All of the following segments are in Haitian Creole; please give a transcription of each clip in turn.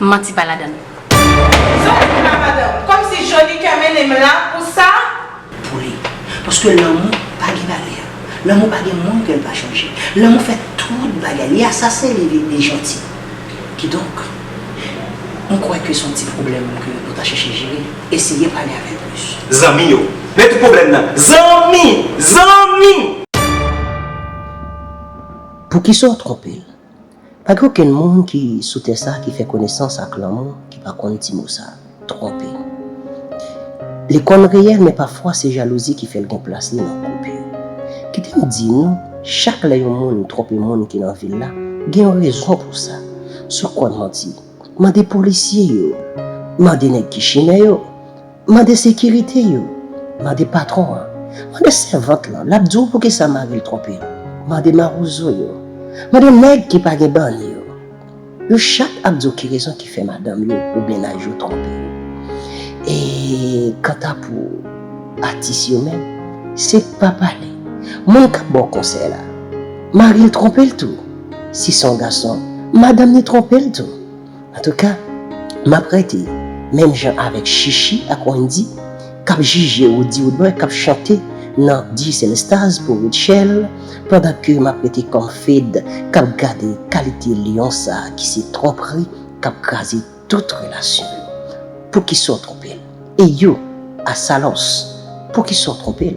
manti pa ladann. Zòrèy pou la madanm. Kòm si Johnny kè mennen m la pou sa. Pou li. Paske lanmou pa gen valè. Lanmou pa gen moun ke l pa chanje. Lanmou fè tout bagay. Li asasen li vin li janti. Kidonk, m kwè ke son ti pwoblèm ke ou ta chèche jere. Eseye pale avè l plis. Zanmi yo. Men tout pwoblèm nan. Zanmi! Zanmi! Poukisa w twonpe l? Pa gen okenn moun ki sou tè sa ki fè konesans ak lanmou ki pa konn ti mo sa, twonpe. Li konn reyèl men pafwa se jalouzi ki fè l gen plas li nan koup yo. Kite m di nou, chak lè yon moun twonpe moun ki nan vil la, gen yon rezon pou sa. Si w konn manti, mande polisye yo, mande nèg ki chimè yo. Mande sekirite yo, mande patwon an, mande sèvant lan, l ap di w poukisa mari l twonpe l, mande mawozo yo, mande nèg ki pa gen bann yo. Yo chak ap di w ki rezon ki fè madanm yo ou mennaj yo twonpe yo. E kanta pou atis yo menm, se pa pale. Moun k ap ba w konsèy la, mari l twonpe l tou. Si se yon gason, madanm ni twonpe l tou. Antouka, m ap rete menm jan avèk Shishi ak Wendy k ap jije Roody Woodboy k ap chante nan Digicel Stars pou Rutshelle pandan ke m ap rete kòm Fed k ap gade kalite lyon sa ki se twonpri k ap kraze tout relasyon yo. Poukisa w twonpe l? E you, Asalòs, poukisa w twonpe l?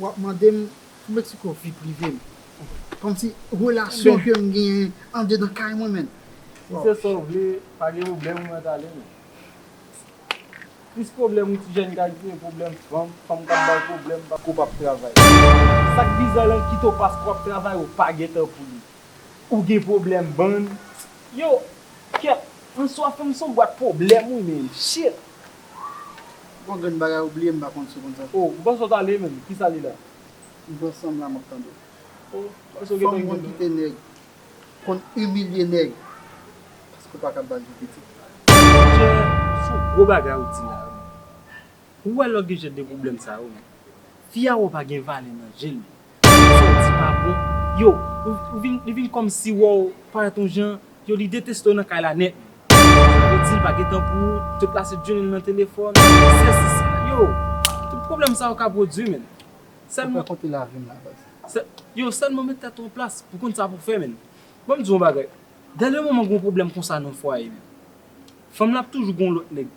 Wap mandem pou met sou ko vi privem komsi relasyon kem gen andedan kay mwen menn. Si se sa ou vle pa gen problèm mwen tale men plis problèm yon ti jèn kay se problèm fanm, fanm kap baw problèm paske ou pap travay. Sak bizan lan kit ou paske wap travay ou pa gen tan pou li ou gen problèm bann yow kèt answa fanm son bwat problèm wi menn shit. Gon grenn bagay ou bliye m pa konn si w konn sa. Oh m panse w t ale menm kisa li la. M pran sanm la map tande. Oh m panse w gen tan kite m. Fanm konn kite nèg. Konn imilye nèg. Paske w paka bal di pitit. Monchè son gwo bagay ou di la wi man. Ou wè lòt gen jan de pwoblèm sa yo man. Fi a wè w pa gen valè nan je l. Sa w di pa bon. Yo, ou vin, li vin kòm si wè w parèt yon jan, yo li deteste w nan kay la nèt menm. Sa vle di l pa gen tan pou ou, tout la se djoune l nan telefòn, sèsi sa. Yo, tout pwoblèm sa yo ka pwodui menn. Sèlman. Ou fè konte lavi m la baz. Sè, yo, sèlman met tèt ou an plas pou konn sa pou fè menn. Ban m di w yon bagay, dèlè yon manman gen yon pwoblèm konsa nan fwaye menn, fanm lan ap toujou gen yon lòt nèg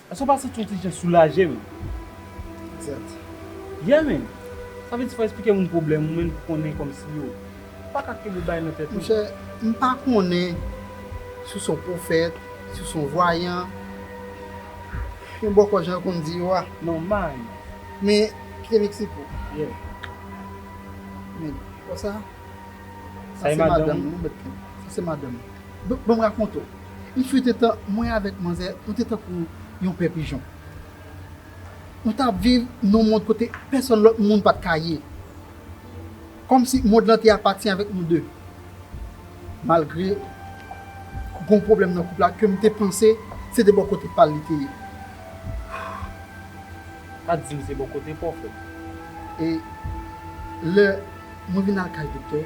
Eske w pa santi yon ti jan soulaje menm? Exact. Yeah man! Sa vle di fò w esplike moun pwoblèm ou menm pou konnen kòmsi yo pa ka kenbe bagay nan tèt yo. Monchè, m pa konnen si w se yon pwofèt, si w se yon vwayan, yon bòkò jan yo konn di yo a. Non, man. Men, kite m eksplike w. Yeah. Men, wè sa? Sa se madanm ou. Sa se madanm ou. Sa se madanm ou. Donk, ban m rakonte w. Il fut-un tan, mwen avèk manzè, nou te tankou yon pè pijon. Nou t ap viv nan yon mond kote pèsonn lòt moun pa t ka ye. Kòmsi mond lan te apati avèk nou de. Malgre gon pwoblèm nan koup la ke m te panse se de bò kote pa l li te ye. Pa di m se bò kote pa w frè m. E lè mwen vin al kay doktè.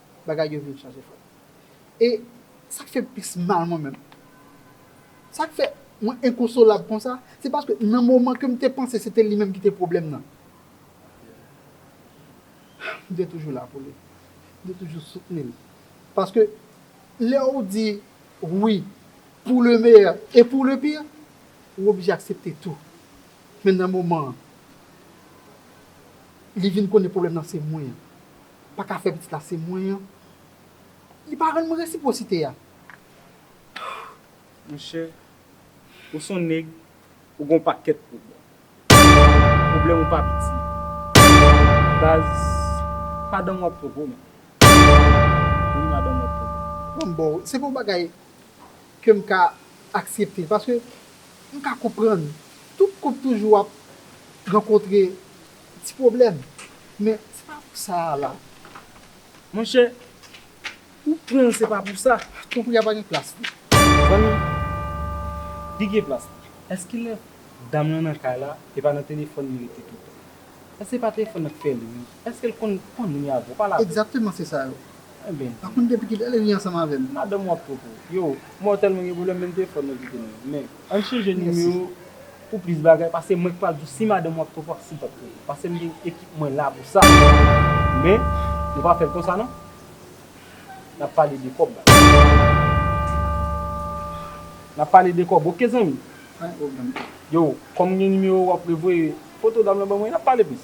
bagay yo vin chanje frè m e sa k fè m plis mal mwen menm sa k fè mwen enkonsolab konsa se paske nan moman ke m te panse se te li menm ki te pwoblèm nan m te toujou la pou li m te toujou soutni l paske lè ou di wi pou le meyè e pou le pir ou oblije aksepte tou men nan moman an li vin konnen pwoblèm nan se mwen. paka fè pitit la se mwen an li pa rann mwen resiprosite a monchè ou son nèg ou gon pakèt pwoblèm pwoblèm ou pa piti baz padanm wap twò gwo man wi madanm wap twò gwo man bon se pa yon bagay kem ka aksepte paske mka konprann tout koup toujou ap rankontre Ti pwoblèm, men se pa pou sa a la. Monchè, ou pran l se pa pou sa. Tankou y a pa gen plas pou. Zanmi, li gen plas la. Èske lè dam lan nan kay la, e pa nan telefòn li rete toutan? Èske se pa telefòn nan k fè l ri? Èske l konn pran moun yo avè w, pale avè l? Egzakteman se sa yo. Enben. Pa konn depi ki lè li ri ansanm avè m. Madanm w ap twò pou ou. Yo, mwen tèlman gen pwoblèm menm telefòn mwen kite nan men. Ann chanje nimewo pou plis bagay pase mwen k pral di w si madanm ou ap twòp wap sipòte l pase m gen ekip mwen la pou sa men nou pa fè l konsa non nap pale de kòb la nap pale de kòb ok zanmi yo kòm m gen nimewo w apre voye foto dam lan ban mwen nap pale plis.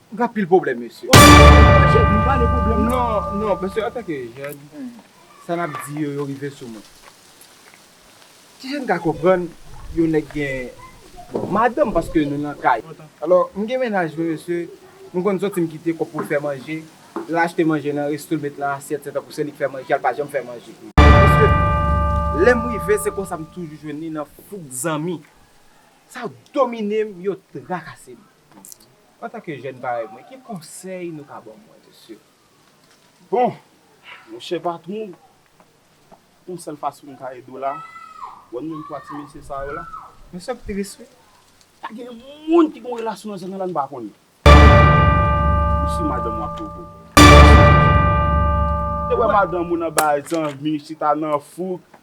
Ou gen anpil pwoblèm mesye. Ou gen anpil pwoblèm mesye. Mwen pale pwoblèm mwen. Non, non, mesye antanke jèn, sa n ap di yo, yo rive sou mwen. Ti jèn ka konprann yon nèg gen, bon, madanm paske nou nan kay. Alò, m gen mennaj mwen mesye, m konn soti m kite kòb pou l fè manje, l al achte manje nan resto l met nan asyèt se tankou se li k fè manje a, l pa janm fè manje. Mesye, lè m rive se konsa m toujou jwenn li nan fouk zanmi. Sa yo domine m, yo trakase m. Antanke jèn parèy mwen, ki konsèy nou ka ban mwen, mesye? Bon, monchè patwon, yon sèl fason m ka ede w la, wè menm twa ti mesye sa yo la? Mesye ap tris wi. Pa gen moun ki gen yon relasyon nan zòn nan la n pa konn yo. Ou si madanm ou ap pwovoke w. Ou te wè madanm ou nan bay zanmi chita nan fouk,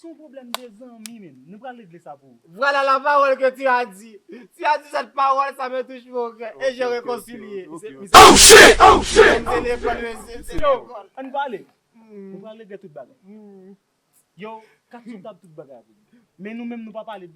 Se yon pwoblèm de zanmi menm. Nou pral regle sa pou ou. Vwala la pawòl ke tu as di. Tu as di sèt pawòl sa me touch mon kè e je rekonsilye. Oh shit! Oh shit! Mse lekòl mesye, mse lekòl. Ann pale! Nou pral regle tout bagay. Yo, Katchou kab tout bagay avèk nou. Men nou menm nou pa pale.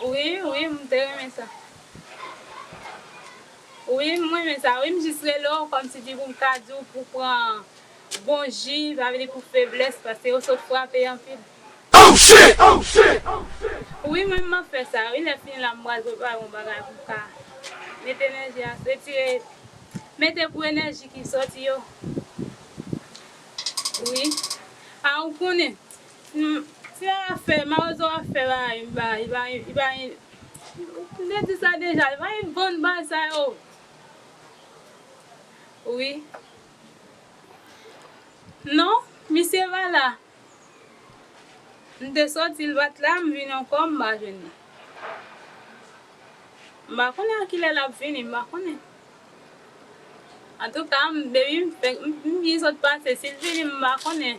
Wi wi m te renmen sa. Wi m renmen sa wi m jis rele w kòm si di pou m ka di w pou w pran bon ji pa vle di pou feblès paske yo sot frape anpil. Wi mwen map fè sa wi lè fini la m pral prepare yon bagay pou m ka mete enèji a retire mete pou enèji ki soti yo wi a ou konnen. Tia a fè, marozo a fè bagay ba li pa li pa li m te di sa deja li pa li vann bagay sa yo wi non misye pa la m te soti l pat la m vin ankò m pa jwenn li m pa konnen a kilè lap vini m pa konnen antouka m depi m fin sot pase si l vini m pa konnen.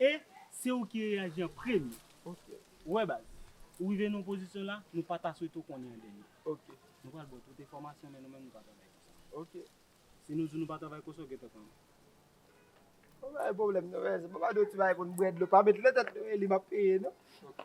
E se ou ki reyaji an premye. Ok. Ou wè baz, ou rive nan yon pozisyon la, nou pa ta swete w konnen an dènye. Ok. Nou pral ba w tout enfòmasyon men nou menm nou pa travay kon sa. Ok. Si nou di w nou pa travay kon sa, w gentan konnen. Ou pa gen pwoblèm non men, se pa ba nou ti bagay pou n bwè dlo, pa met nan tèt nou Eli m ap peye non. Ok.